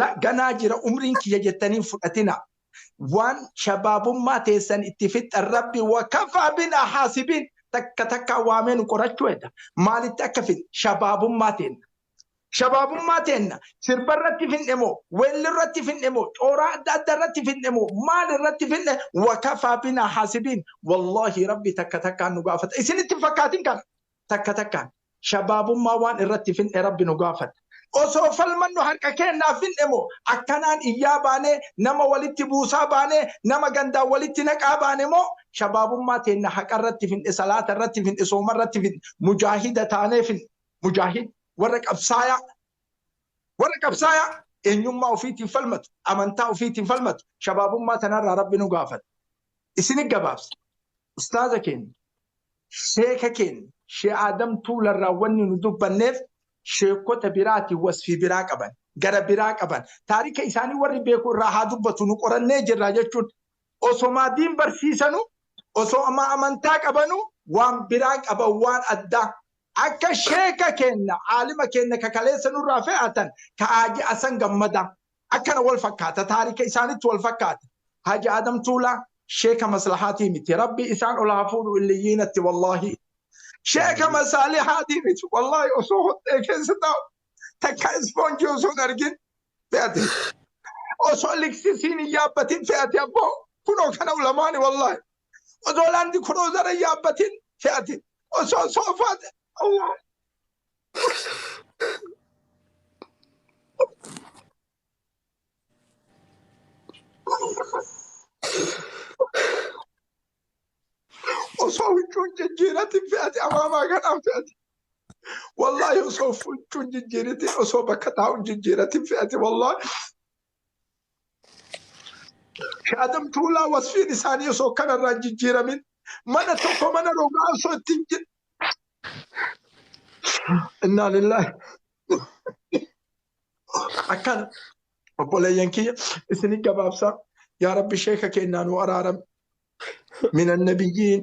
la ganaa jira umriin kiyya jettanii hin fudhatina waan shabaabummaa teessan itti fixxan rabbi wakafaa binaa haasibiin takka takkaa waamee nu qorachuu hedda maalitti akka fixne shabaabummaa teenna shabaabummaa teenna sirba irratti finne moo weelli irratti finne moo cooraa adda adda irratti finne moo maal irratti finne wakafaa binaa haasibiin wallaahi rabbi takka takkaa nu gaafata isinitti hin fakkaatin kana takka takkaan shabaabummaa waan irratti fin'e Rabbi nu gaafata. Osoo falmannu harka keennaa fin'e moo akkanaan iyyaa baanee, nama walitti buusaa baanee, nama gandaan walitti naqaa baane moo shabaabummaa teenna haqa irratti fin'e, salaata irratti fin'e, sooma irratti fin'e, mujaahida taanee fin'e. Mujaahid warra qabsaayaa, warra qabsaayaa eenyummaa ofiitiin falmatu, amantaa ofiitiin falmatu. Shabaabummaa tanarraa Rabbi nu gaafata. Isini gabaabsa. Ustaaza keenya, sheeka keenya, Shee Aadam Tuularraa wanni nu dubbanneef sheekota biraatiin wasfii biraa qaban, gara biraa qaban, taarika isaanii warri beeku irraa haa dubbatu nu qorannee jirra jechuun osomaa diin barsiisanu, osomaa amantaa qabanu waan biraa qaban waan addaa. Akka sheeka keenya, aalima keenya ka kaleessa nurraa fe'atan ka Haaji Hasan Gammadaa. Akkana wal fakkaata taarika isaanitti wal fakkaata. Haaji Aadam Tuulaa sheeka maslahaatii miti. Rabbi isaan ol haa fuudhu illiyyiinatti wallaahi. Sheeka masaalihaatii miti wallaahi osoo hoxxee keessa taa'u takka ispoonjii osoo hin argin fe'ate. Osoo liksisiin hin yaabbatin fe'ate abboo kunoo kana ulamaani wallaahi. Osoo laandi kuroozara hin yaabbatin fe'ate. Osoo soofaa ta'e Allah. osoo huccuun jijjiiratiin fe'ate amaamaa kanaan fe'ate. Wallaahi osoo huccuun jijjiiratiin osoo bakka taa'uun jijjiiratiin fe'ate wallaahi Adam Tuulaa wasfiin isaanii osoo kanarraa hin jijjiiramin mana tokko mana rogaa osoo ittiin jir. Innaa lillaahi. Akkana obboleeyyan kiyya isinii gabaabsaa yaa rabbi sheeka keennaa nuu araarami. Minan nabiyyiin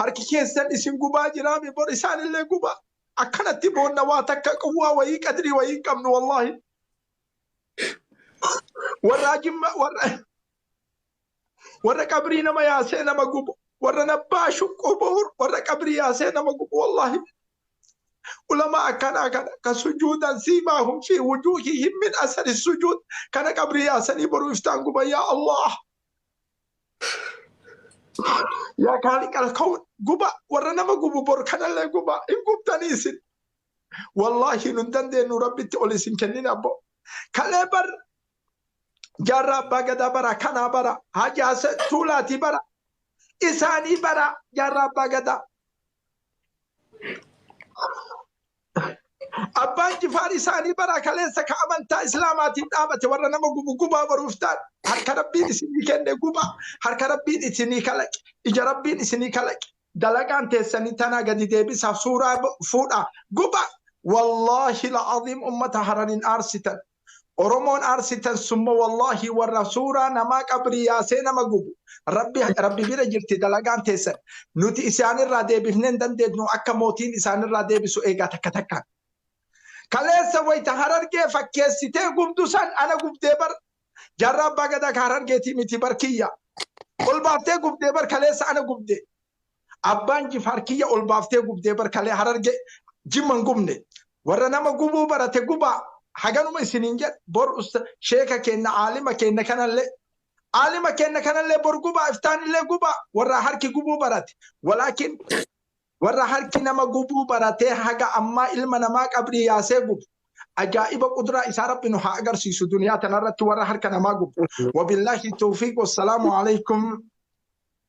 Harki keessan isin gubaa jiraame bor isaanillee gubaa. Akkanatti boonna waa takka quwwaa wayii qadrii wayii hin qabnu wallaahi. Warraa jimma warra warra qabrii nama yaasee nama gubu warra nabbaa shuqquu bu'uur warra qabrii yaasee nama gubu wallaahi. Ulama akkanaa kana ka sujuudan siimaa hum fi wujuuhi himmin asari sujuud kana qabrii yaasanii boru iftaan guba yaa Allah. Yaa gaarii qala ka'uun guba warra nama gubu bor kanallee guba hin gubtanii isin. Wallaahi nun dandeenyu rabbitti ol isin kennin abbo. Kalee bar jaarraa abbaa gadaa bara kanaa bara hajaasa tuulaatii bara isaanii bara jaarraa abbaa gadaa. Abbaan Jifaar isaanii bara kaleessa ka amantaa Islaamaatiin dhaabate warra nama gubu gubaa boruuf taan harka Rabbiin isinii kenne gubaa harka Rabbiin isinii kalaqe ija Rabbiin isinii kalaqe dalagaan teessanii tanaa gadi deebisaa suuraa fuudhaa gubaa wallaahi la'aziim ummata Harariin aarsitan. Oromoon aarsitan summa wallahi warra suuraa namaa qabrii yaasee nama gubu rabbi rabbi bira jirti dalagaan teessan nuti isaanirraa deebifnee hin dandeetnu akka mootiin isaanirraa deebisu eegaa takka takkaan. Kaleessa wayita harargee fakkeessitee gubdu san ana gubdee bar jarraa abbaa gadaa ka harargeetii miti bar kiyya. Ol baaftee gubdee bar kaleessa ana gubde. Abbaan jifaar kiyya ol baaftee gubdee bar kalee hararge jimma hin gubne warra nama gubuu barate gubaa haganuma isiniin jedha bor usta sheeka keenna aalima keenna kanallee aalima keenna kanallee bor gubaa iftaanillee gubaa warra harki gubuu barate walaakin warra harki nama gubuu baratee haga ammaa ilma namaa qabrii yaasee gubu ajaa'iba qudraa isaa rabbi nu haa agarsiisu duniyaa tanarratti warra harka namaa gubu wabillahi tawfiiq wassalaamu alaykum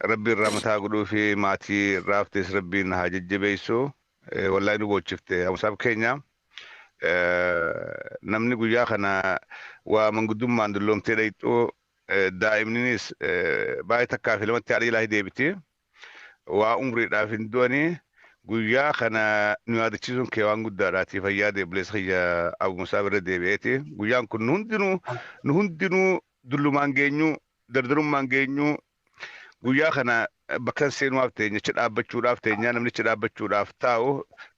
Rabbiin rahmata haa godhuufi maatii irraa haftes rabbiin haa jajjabeessu. Eh, Wallahi nu boochifte Musab keenya. Eh, Namni guyyaa kana waa manguddummaan dulloomtee dhayxuu eh, daa'imninis eh, baay'ee takkaa fi lamatti haadha jalaa deebiti. Waa umriidhaaf hin du'anii guyyaa kana nu yaadachiisuun kee waan guddaadhaati fayyaa deeblees kiyya Abu Musaab irra deebi'eeti. Guyyaan kun nu hundinuu nu hundinuu Dullumaan geenyuu, dardarummaan geenyuu guyyaa kana bakka hin seenuwaaf teenya achi dhaabbachuudhaaf teenyaa namni achi dhaabbachuudhaaf taa'u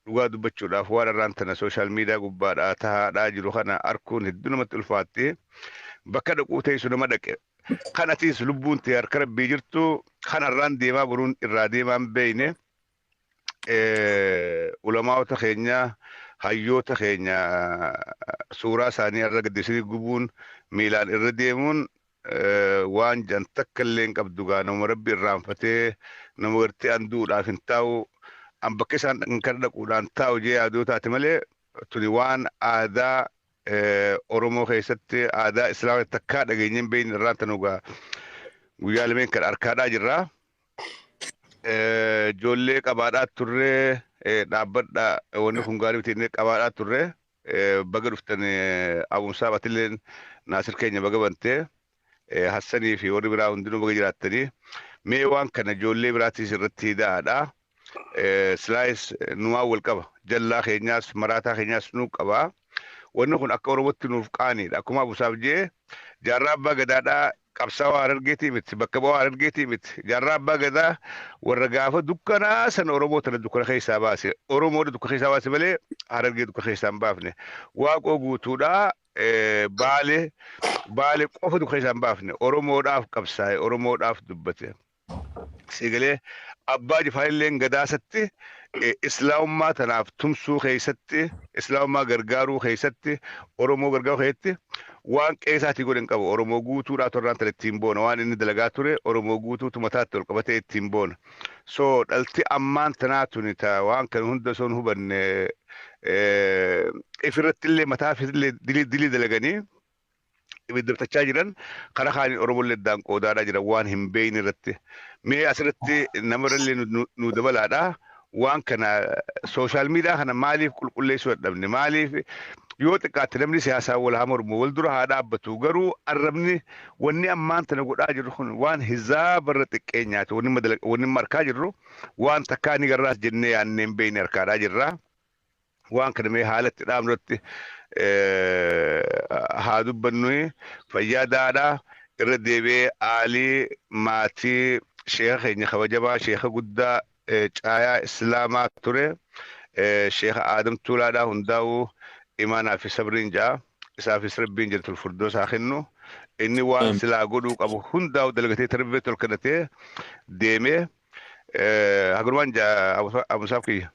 dhugaa dubbachuudhaaf waan irraan tana sooshaal miidiyaa gubbaadhaa tahaadhaa jiru kana arkuun hedduu namatti ulfaatti bakka dhaquu teessu nama dhaqe kan atiis lubbuun tee harka rabbii jirtu kan harraan deemaa boruun irraa deemaan beeyne ulamaa'ota keenya hayyoota keenya suuraa isaanii irra gaddisanii gubuun miilaan irra deemuun waan jan takka illee hin qabdu gaa nama rabbi irraanfatee nama gartee an du'uudhaaf hin taa'u an bakka isaan dhaqan kana dhaquudhaan taa'u jee yaadoo taate malee tuni waan aadaa Oromoo keessatti aadaa islaamatti takkaa dhageenyeen beeyni irraan tanugaa guyyaa lameen kan harkaadhaa jirraa. Eh, Ijoollee qabaadhaa turree eh, dhaabbadha eh, wanni kun gaarii miti inni qabaadhaa turree eh, baga dhuftan eh, Abumsaa Batilleen Naasir keenya baga bantee eh, Hassanii fi warri biraa hundinuu baga jiraattanii mee waan kana ijoollee biraatiis irratti hidaadha. Eh, Silaayis eh, numaa wal qaba jallaa keenyaas maraataa keenyaas nu qaba. Wanni kun akka Oromootti nuuf qaaniidha. Akkuma Abusaaf jee jaarraa abbaa gadaadhaa Qabsaawaa Harargeetii miti, bakka bu'aa Harargeetii miti. Jaarraa Abbaa Gadaa warra gaafa dukkanaa sana Oromoo tana dukkana keessaa baase. Oromoodha dukkana keessaa baase malee Harargee dukkana keessaa hin baafne. Waaqoo guutuudha Baale Baale qofa dukkana keessaa hin baafne. Oromoodhaaf qabsaa'e, Oromoodhaaf dubbate. Sii galee Abbaa Jifaarilleen Gadaasatti Islaamummaa tanaaf tumsuu keessatti, Islaamummaa gargaaruu keessatti, Oromoo gargaaruu keessatti waan qe'ee isaatii godhe hin qabu. Oromoo guutuu dhaatu irraan tana ittiin boona. Waan inni dalagaa ture Oromoo guutuutu mataatti ol qabatee ittiin boona. So dhalti ammaan tanaa tuni ta waan kana hunda osoo hin hubanne ifirratti illee mataa illee dilii dilii dalaganii ibiddabtachaa jiran kara kaaniin Oromollee addaan qoodaadhaa jiran waan hin beeyne irratti. Mee asirratti nama irrallee nu- nu- nu dabalaadha. Waan kana sooshaal miidiyaa kana maaliif qulqulleessuu dadhabne? Maaliif yoo xiqqaatte namni siyaasaa wal haa mormu wal dura haa dhaabbatu garuu arrabni wanni ammaan tana godhaa jirru kun waan hizaa barra xiqqeenyaati wanni madala- wanni amma arkaa jirru waan takkaa ni garraas jennee yaannee hin beeyne arkaadhaa jirra. waan kana mee haala itti dhaabnu irratti haa dubbannu fayyaa daadha irra deebi'ee aalii maatii sheeka keenya kabajamaa sheeka guddaa caayaa islaamaa ture sheeka aadam tuulaadhaa hundaa'uu imaanaa fi sabriin ja'a isaafis rabbiin jirtul furdoo isaa kennu inni waan silaa godhuu qabu hundaa'u dalagatee tarbee tol kennatee deemee hagurumaan ja'a abusaaf kiyya.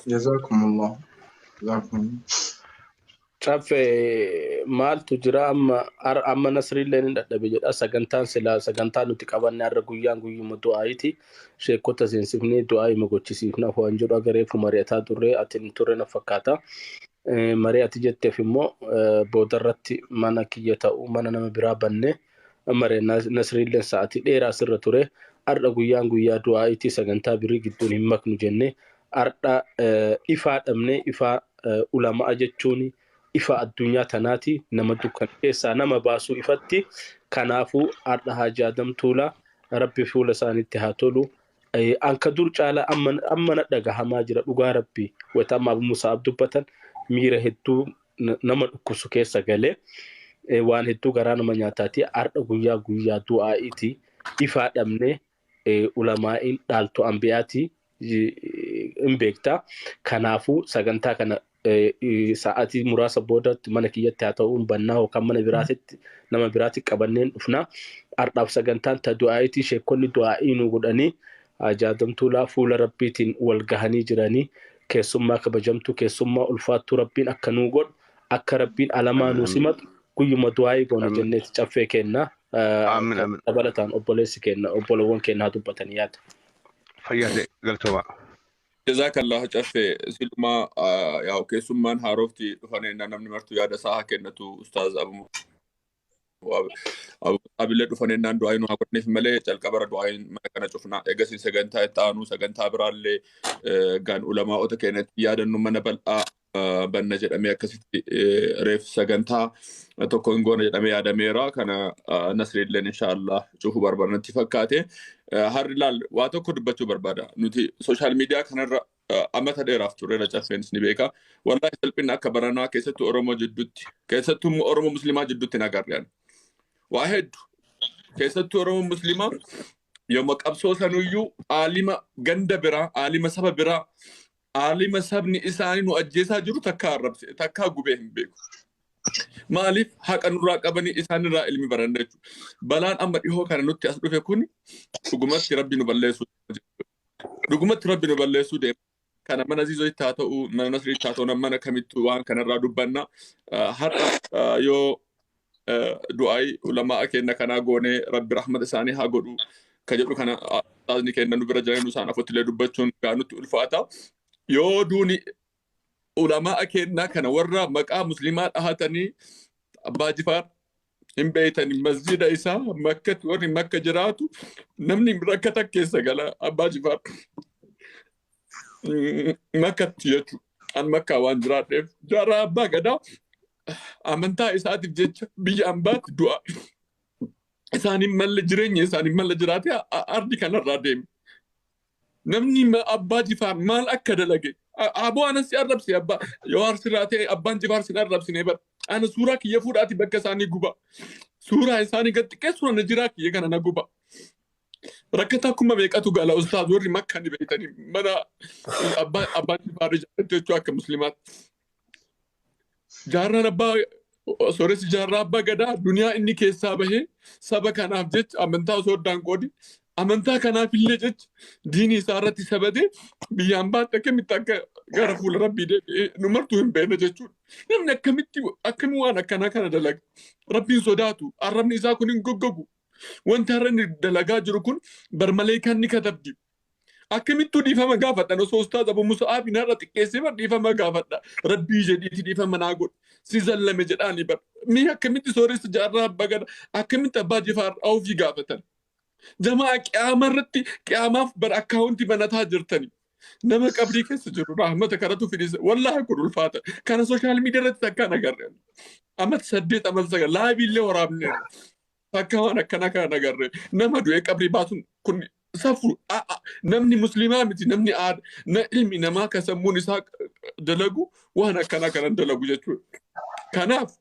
Jazakumullah. Jazakumullah. Caffe maaltu jira amma ar- amma nasriillee ni dadhabe jedha sagantaan silaa sagantaa nuti qabanne har'a guyyaan guyyuma du'aayiiti sheekota seensifnee du'aayima gochisiifna waan jedhu agareefu mari'ataa turre ati hin turre na fakkaata Eh, mari'ati jetteef immoo eh, boodarratti mana kiyya ta'u mana nama biraa banne Amare Nasriilleen sa'atii dheeraa asirra ture. Har'a guyyaan guyyaa du'aa'iiti sagantaa birii gidduun hin maknu jenne. Har'a ifaa dhabne ifaa ulama'a jechuun ifa addunyaa tanaati nama dukkan keessaa nama baasuu ifatti. Kanaafuu har'a Haaji Adam Tuulaa rabbi fuula isaanitti haa tolu. Anka dur caalaa amma na dhagahamaa jira dhugaa rabbi wayita amma Abu Musaa'ab dubbatan miira hedduu nama dhukkubsu keessa galee eh, waan hedduu garaa nama nyaataati. Har'a guyyaa guyyaa du'aa'iiti. Ifaa dhabnee eh, ulamaa'iin dhaaltu anbiyaati eh, hin beekta. Kanaafuu sagantaa kana eh, eh, sa'aatii muraasa boodatti mana kiyyatti haa ta'uun bannaa yookaan mana biraatitti nama biraatti qabanneen dhufna. Har'aaf sagantaan ta du'aa'iitii sheekkonni du'aa'ii nu godhanii ajaadamtuulaa fuula rabbiitiin wal gahanii jiranii Keessummaa kabajamtuu keessummaa ulfaattuu rabbiin akka nuu godhu akka rabbiin alamaa nuu simatu guyyuma du'aa'ii goona jenneeti caffee keenna dabalataan obboleessi keenna obbolowwan keenna haa dubbatan yaada. Fayyaa ta'e galtoomaa. Jazaakallah caffee silumaa yaa'u keessummaan haarofti dhufan ennaa namni martuu yaada isaa haa kennatu ustaaz Abu Abila dhufan ennaan du'aayi nu haa godhaniif malee calqabara du'aayin mana kana cufna. Egasii sagantaa itti aanu sagantaa biraallee gaan ulamaa'ota keenya itti yaadannu mana bal'aa banna jedhamee akkasitti reef sagantaa tokko hin goona jedhamee yaadameera. Kana nasriilleen inshaallah cufu barbaadnatti fakkaate. Harri laal waa tokko dubbachuu barbaada. Nuti sooshaal miidiyaa kanarra Amata dheeraaf tureera caffeenis ni beeka. Wallaahi salphinni akka baranaa keessattuu Oromoo jidduutti keessattuu immoo Oromoo Musliimaa jidduutti hin agarre ani. Waa heddu keessattuu Oromoo Musliimaa yooma qabsoo sanuyyuu aalima ganda biraa aalima saba biraa aalima sabni isaanii nu ajjeesaa jiru takkaa arrabse takkaa gubee hin beeku. Maaliif haqa nurraa qabanii isaanirraa ilmi baranna jechuudha. Balaan amma dhihoo kana nutti as dhufe kun dhugumatti rabbi nu balleessuu jechuudha. Dhugumatti Rabbi nu balleessuu deema. Kana mana Aziizoitti haa ta'u, mana Nasriitti haa ta'u, nam- mana kamittuu waan kanarraa dubbanna. Ah, Har'a ah, yoo ah, du'aayi ulamaa kenna kanaa goonee Rabbi rahmata isaanii haa godhu ka jedhu kana ah, ustaazni kenna nu bira jiranii nu isaan afotti illee dubbachuun gaa nutti ulfaata. Yoo duuni ulama'a keennaa kana warra maqaa muslimaa dhahatanii abbaa jifaar hin beeytani masjida isaa makkatti warri makka jiraatu namni rakkata keessa gala abbaa jifaar Mm, makkatti jechu an makkaa waan jiraadheef jaarraa abbaa gadaa amantaa isaatiif jecha biyya ambaatti du'a isaaniin malle jireenya isaaniin malle jiraatee a- a- ardi kanarraa deeme Namni abbaa jifaar maal akka dalage aboo anan si arrabse abbaa jawaar sirraa ta'e abbaan jifaar sin arrabsine bar ana suuraa kiyya fuudhaati bakka isaanii guba suuraa isaanii gad xiqqeessuun ana jiraa kiyya kana na guba rakkataa kuma meeqatu gala ustaaz warri makka ni beektanii mana abbaa abbaan jifaar ijaarratti jechuu akka muslimaatti Jaarraan abbaa sooressi jaarraa abbaa gadaa duniyaa inni keessaa bahee saba kanaaf jecha amantaa osoo addaan qoodi amantaa kanaaf illee jecha diinii isaa irratti sabate biyyaan baatti akkamitti akka gara fuula rabbii deebi'ee nu martuu hin beekne jechuudha. Namni akkamitti akkamii waan akkanaa kana dalaga rabbiin sodaatu arrabni isaa kun hin goggogu. Wanti har'a inni dalagaa jiru kun barmalee kan ni katabdi. Akkamittuu dhiifama gaafadhan osoo ustaaz Abu Musa'aab hin har'a xiqqeessee bar dhiifama gaafadha. Rabbii jedhiiti dhiifama naa godhi. Si zallame jedhaani bar. Mee akkamitti sooressa jaarraa abbaa gada akkamitti abbaa jifaar ofii gaafatan. Jamaa qiyaama irratti qiyaamaaf bar akkaawunti banataa jirtani. Nama qabrii keessa jiru rahmata karatu fidisa. Wallaahi kun ulfaata. Kana sooshaal miidiyaa irratti takkaan agarre. Amat saddeet amat sagal laabii illee waraabne. Akka waan akkanaa kana nagarre nama du'ee qabrii baasuun kun safu namni musliimaa miti namni aada na ilmi namaa kan sammuun isaa dalagu waan akkanaa kanan dalagu jechuudha. Kanaaf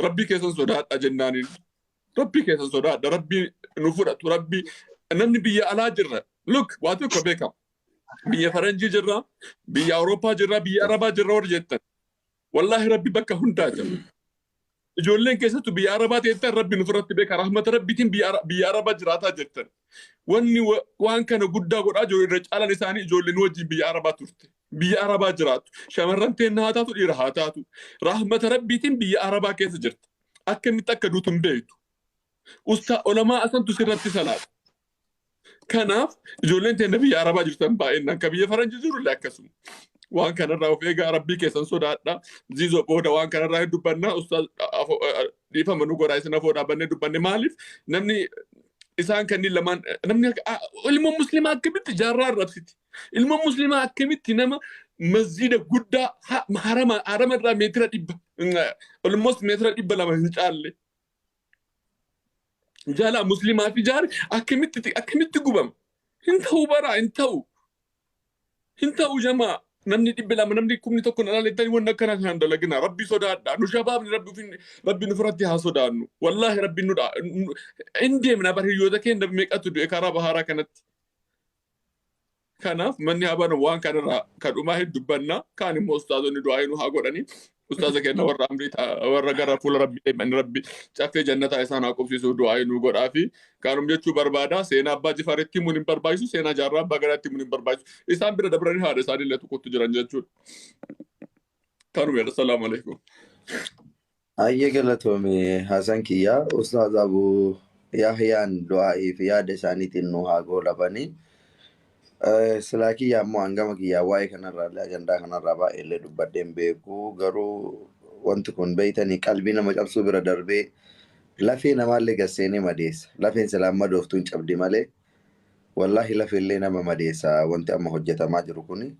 rabbii keessan sodaadha jennaaniin rabbii keessan sodaadha rabbii nu fudhatu rabbii namni biyya alaa jirra look waa tokko beekama biyya faranjii jirra biyya awurooppaa jirra biyya arabaa jirra warri jettan Wallaahi rabbi bakka hundaa jira. Ijoolleen keessattu biyya arabaa teettan rabbi nufirratti beeka rahmata rabbiitiin biyya Ara- biyya arabaa jiraataa jirtan. Wanni wa- waan kana guddaa godhaa jiru irra caalan isaanii ijoolleen wajjin biyya arabaa turte. Biyya arabaa jiraatu. Shamarran teenna haa taatu dhiira haa taatu. Rahmata rabbiitiin biyya arabaa keessa jirta. Akkamitti akka duutu hin beektu. Ustaa olamaa asantu sirratti salaata. Kanaaf ijoolleen teenya biyya Arabaa jirtan baay'inaan kan biyya Faranjii jiru illee akkasuma. Waan kanarraa of eegaa rabbii keessan sodaadha. Ziizoo booda waan kanarraa hin dubbanna. Ustaaz afoo- eh, dhiifama nu godhaa isin afoo dhaabannee dubbanne maaliif namni isaan kanneen lamaan namni akka- ah, ilmoon musliimaa akkamitti jaarraa arrabsiti. Ilmoon musliimaa akkamitti nama masjiida guddaa ha- harama harama irraa meetira dhibba almost meetira dhibba lama hin caalle Jaalaa muslimaa fi jaari akkamitti akkamitti gubama? Hin ta'u baraa hin ta'u. Hin ta'u jamaa namni dhibbi lama namni kumni tokko na dhalettanii wanni akkana kan dalagina rabbi sodaadha nu shabaabni rabbi ofin rabbi nu firatti haa sodaannu wallaahi rabbi nu dha hin deemna bar hiriyoota keenya meeqatu du'e karaa bahaaraa kanatti Kanaaf manni habana waan kanarraa kadhumaa hin dubbanna kaan immoo ustaazonni du'aa hin haa godhanii ustaaza kenna warra amrii warra gara fuula rabbi deeman rabbi caffee jannataa isaan haa qubsiisuu du'aa hin godhaa fi kaanum jechuu barbaada seenaa abbaa jifaaritti himuun hin barbaachisu seenaa jaarraa abbaa gadaatti himuun hin barbaachisu isaan bira dabranii haadha isaanii illee tokkotti jiran jechuudha. Kanuma jedha salaamu alaikum. Hayyee galatoomi Hasan kiyya. Ustaaz Abu Yahyaan du'aa'ii fi yaada isaaniitiin nu haa goolabanii. Eh, Silaa kiyya ammoo hangama kiyyaa waa'ee kanarraallee ajandaa kanarraa baay'eellee dubbadhee hin beeku. Garuu wanti kun beeytanii qalbii nama cabsuu bira darbee lafee namaallee gad seenee madeessa. Lafeen silaa hin madooftu hin cabdi malee wallaahi lafeellee nama madeessa wanti amma hojjetamaa jiru kuni.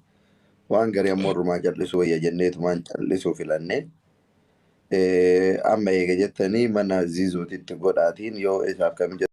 Waan garii ammoo irrumaa cal'isuu wayya jenneetumaan cal'isuu filannee. Amma eega jettanii mana Zizuutitti godhaatiin yoo isaaf kan mijatu.